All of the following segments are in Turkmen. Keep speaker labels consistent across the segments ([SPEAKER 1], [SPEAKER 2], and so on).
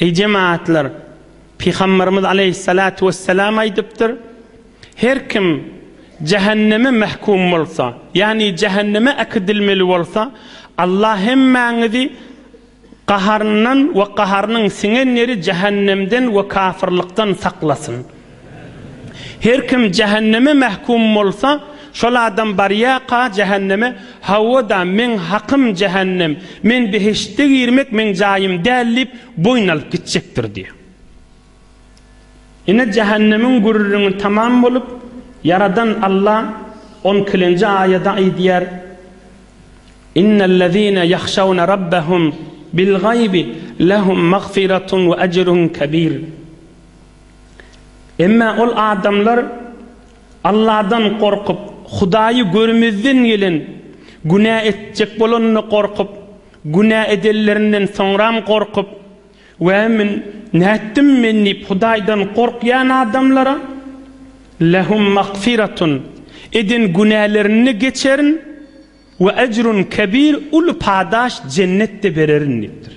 [SPEAKER 1] Eý jemagatlar! Pygamberimiz aleýhissalatu wessalam aýdypdyr, Her kim jähenneme mähkum bolsa, ýagny jähenneme äkidilmeli bolsa, Allah hemmäňizi gaharyndan we gaharynyň siňen ýeri jähennemden we kafyrlykdan saklasyn. Her kim jähenneme mähkum bolsa, şol adam barýarka jähenneme, Hawa-da, meň hakym jähennem, men behiştde girmek meň jaýym däl diýip, boýun alyp gitjekdir diýýär. Ine, jähennemiň gürrüňi tamam bolup, Ýaradan Alla on ikilenji aýada aýdýar, Innellezine ýahşawne Rabbehum bil-gaýbi lehum magfiratun we ejrun kebir. Emma ol adamlar Alladan gorkup, Hudaýy görmezden gelen, günä etjek bolanyny gorkup, günä edenlerinden soňram gorkup, Wä, men nätdim men diýip Hudaýdan gorkýan adamlara, Lehum magfiratun, eden günälerini geçerin, We ejrun kebir, uly padaş, jennetde bererin diýipdir.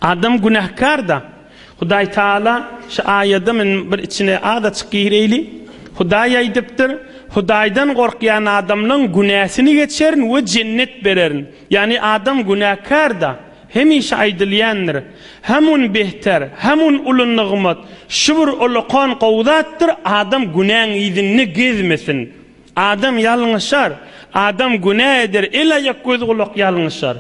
[SPEAKER 1] Adam günähkar-da. Hudaý Tagala şu aýada men bir içine az açyk gireýli. Hudaý aýdypdyr, Hudaýdan gorkýan adamlaň günäsini geçerin we jennet bererin. Ýagny adam günäkar-da. Hemişe aýdylýandyr, Hamun behter, hamun uly nygmat, şu bir ulakan gowy zatdyr, adam günäň yzynda gezmesin. Adam ýalňyşar, adam günä eder, el-aýak, göz-gulak ýalňyşar.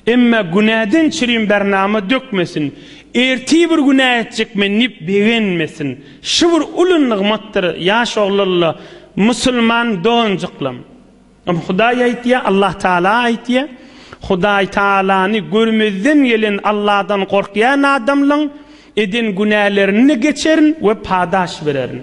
[SPEAKER 1] Emma günäden çirim bär nama dökmesin, ertir bir günä etjek men diýip begenmesin. Şu bir uly nygmatdyr, ýaş oglanla, musulman doganjyklam. Ol Hudaý aýtýar, Allah Taala aýtýar. Hudaý Taalany görmezden gelen Alladan gorkýan adamlaň eden günälerini geçerin we padaş bererin.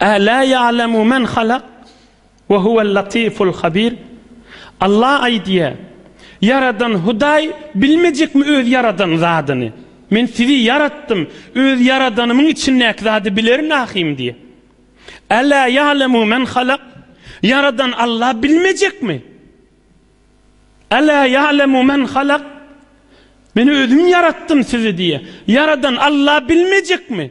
[SPEAKER 1] Älä ýa'lemu men halak we huwel latiful habir, Alla aýdýar, Ýaradan Hudaý bilmejekmi Öz ýaradan zadyny? Men sizi ýaratdym, Öz ýaradanymyň içindäki zady bilerin ahym diýýär. Älä ýa'lemu men halak, Ýaradan Alla bilmejekmi? Älä ýa'lemu men halak, Men Özüm ýaratdym sizi diýýär. Ýaradan Alla bilmejekmi?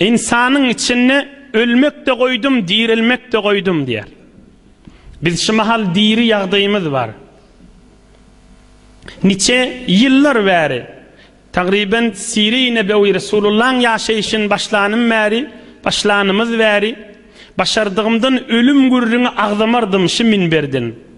[SPEAKER 1] Ynsanyň içinde ölmek-de goýdum, direlmek-de goýdum diýýär. Biz şu mahal diri ýagdaýymyz bar. Niçe ýyllar bäri, tagryban Siri nebewi Resulullahyň ýaşaýşyny başlanym bäri, başlanymyz bäri, başardygymdan ölüm gürrüňi agzamardym şu minberden.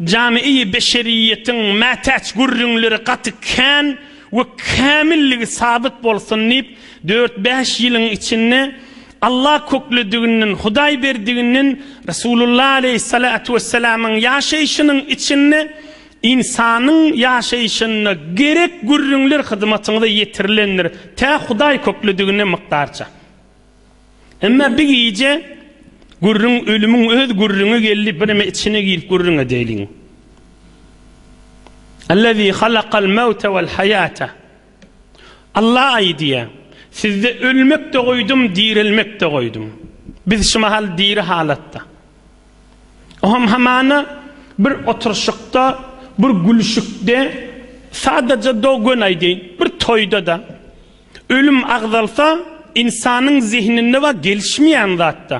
[SPEAKER 1] Jamy-i beşeriýetiň mätäç gürrüňleri gaty kän we kämilligi sabyt bolsun diýip, dört-bäş ýylyň içinde Alla köklediginden, Hudaý berdiginden, Resulullah aleýhissalatu wessalamyň ýaşaýşynyň içinde ynsanyň ýaşaýşynda gerek gürrüňler hyzmatyňyza ýetirilendir, tä Hudaý kökledigine mykdarça. Emma bir gije gürrüň ölümiň öz gürrüňi geldi, bireme içine girip gürrüň edeýliň. Allazi halakal mewte vel haýata. Alla aýdýar, sizde ölmek-de goýdum, direlmek-de goýdum. Biz şu mahal diri halatda. O hem hamana bir oturyşykda, bir gülüşikde, sadaja do-gön aýdaýyn, bir toýda-da. Ölüm agzalsa, ynsanyň zehninde bar gelişmeýän zat-da.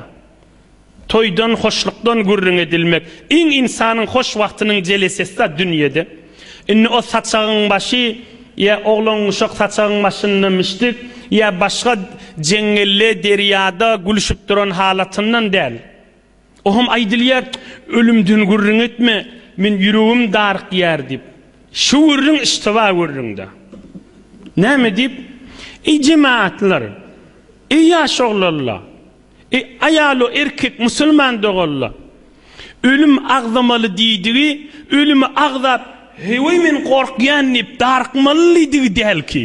[SPEAKER 1] Toýdan, hoşlukdan gürrüň edilmek. Iň ynsanyň hoş wagtynyň jelesesi-da dünýede. Indi o saçagyň başy, ýa oglan-uşak saçagyň başynda mişdik, ýa başga jeňňelle, derýada gülüşip duran halatyndan däl. Oňam aýdylýar, Ölümden gürrüň etme, men ýüregim darykýar diýip. Şu gürrüň yştyba gürrüňdä. Näme diýip, Eý jemagatlar! Eý ýaş oglanla! Eý aýalo erkek musulman doganla! Ölüm agzamaly diýdigi, ölümi agzap, heý men gorkýan diýip darykmaly diýdigi dälki.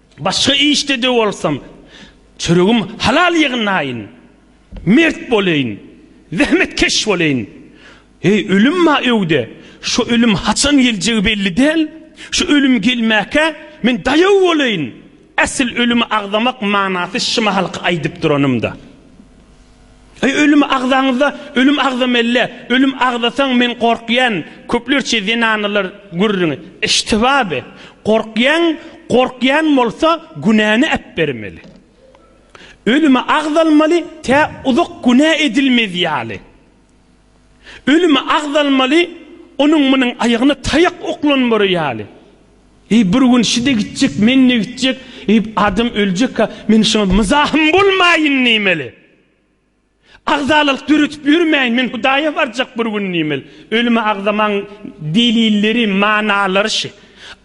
[SPEAKER 1] Başga işde-de bolsam, çöregim halal ýygnaýyn, mert bolaýyn, zähmetkeş bolaýyn. Eý, ölüm bar öýde, şo ölüm haçan geljegi belli däl. Şo ölüm gelmäkä, men daýaw bolaýyn. Äsli ölümi agzamak manasy şi mahalky aýdyp duranym-da. Eý ölüm agzaňyzda ölüm agzamelle ölüm agzasaň men gorkýan köplerçe zenanalar gürrüňi eştibaby gorkýan gorkýan bolsa günäni äpbermeli ölümi agzalmaly tä uzak günä edilmezýaly Ölümi agzalmaly, onuň-munuň aýagyna taýak oklanmary ýaly. Eý, bir gün şi-de gitjek, men-de gitjek, eý, adam öljek-ä, men şuňa myzahym bolmaýyn diýmeli. Agzalalyk döretip ýörmäýin, men Hudaýa barjak bir gün diýmeli. Ölümi agzamagyň delilleri, manalary şi.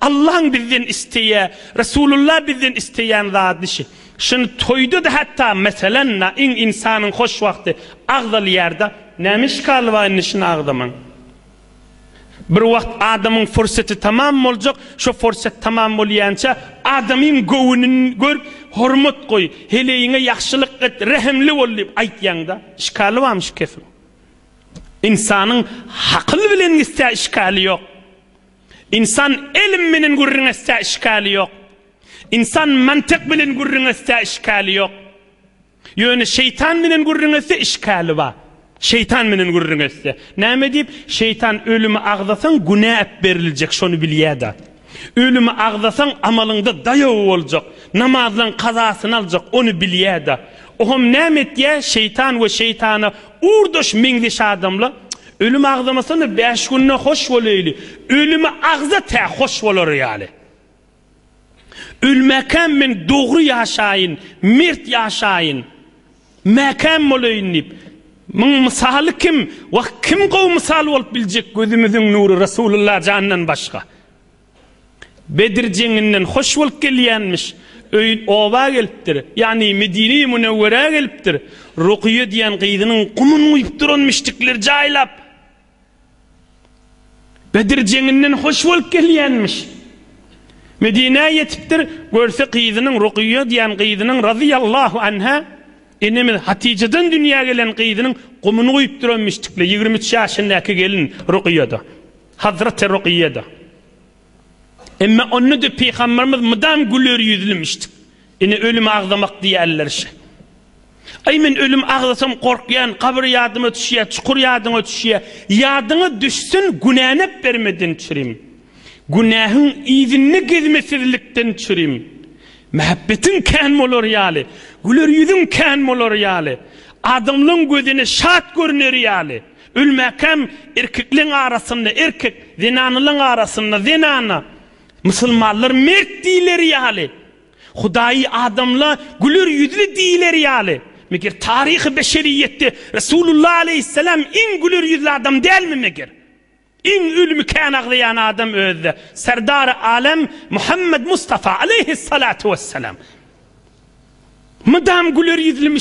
[SPEAKER 1] Allaň bizden isleýä Resulullah bizden isleýän zady şi. Şuny toýda-da hatda meselen na in insanyň hoş wagty agzalýarda. Näme işgali bar indi şuny agzamaň. Bir wagt adamyň fursaty tamam boljak, şo fursat tamam bolýança adamyň göwünün gör, hormat goý, heleýiňe ýagşylyk et, rehimli bol diýip aýtýaňda. Işgali barmy şu kefiň? Insanyň hakyl bilen gitse işgali ýok. Ynsan elm menen gürrüň etse işgali ýok. Ynsan mantyk bilen gürrüň etse işgali ýok. Ýöne şeýtan menen gürrüň etse işgali bar. Şeýtan menen gürrüň etse. Näme diýip, şeýtan ölümi agzasaň günä ep beriljek şony bilýäda. Ölümi agzasaň amalyňda daýaw boljak. Namazlaň kazasyny aljak ony bilýäda. Ohm näme etýä şeýtan we şeýtana urdaş meňzeş adamla. Ölüm agzamasana bäş günde hoş boleýli, ölümi agza tä hoş bolary ýaly. Ölmäkäm men dogry ýaşaýyn, mert ýaşaýyn, mäkäm boleýin diýip, muň mysaly kim, wah kim gowy mysal bolup biljek gözümiziň nury Resulullah jandan başga. Bedr jeňinden hoş bolup gelýänmiş. Öýün oba gelipdir. Ýagny Medine-i Münewwerä gelipdir. Rukyýa diýen gyzynyň gumyny guýup duran müşrikler jaýlap. Bedr jeňinden hoş bolup gelýänmiş. Medinä ýetipdir. Görse gyzynyň Rukyýa diýen gyzynyň razyýallahu anha enemiz Hatyjadan dünýä gelen gyzynyň gumyny guýup duran müşrikler. Ýigrimi üç ýaşyndaky gelin Rukyýa-da. Hazreti Rukyýe-de. Emma onda-da pygamberimiz mydam güler ýüzlümişdik. Ine ölüm agzamak diýerler şe. Aý men ölüm agzasam gorkýan, gabyr ýadyma düşýä, çukur ýadyňa düşýä. Ýadyňa düşsün günänep bermeden çürim. Günähiň yzynda gezmesizlikden çürim. Mähebbetiň kän bolar ýaly, güler ýüzüň kän bolar ýaly, adamlaň gözüne şat görner ýaly. Ölmäkäm erkekleň arasynda erkek, zenanalaň arasynda zenana. Musulmanlar mert diýileri ýaly, Hudaýy adamla güler ýüzli diýileri ýaly. Meger taryhy beşeriýetde Resulullah aleýhissalam iň güler ýüzli adam dälmi meger? Iň ölümi kän aglaýan adam özde Serdary alem Muhammed Mustafa aleýhissalatu wessalam. Mydam güler ýüzlimi.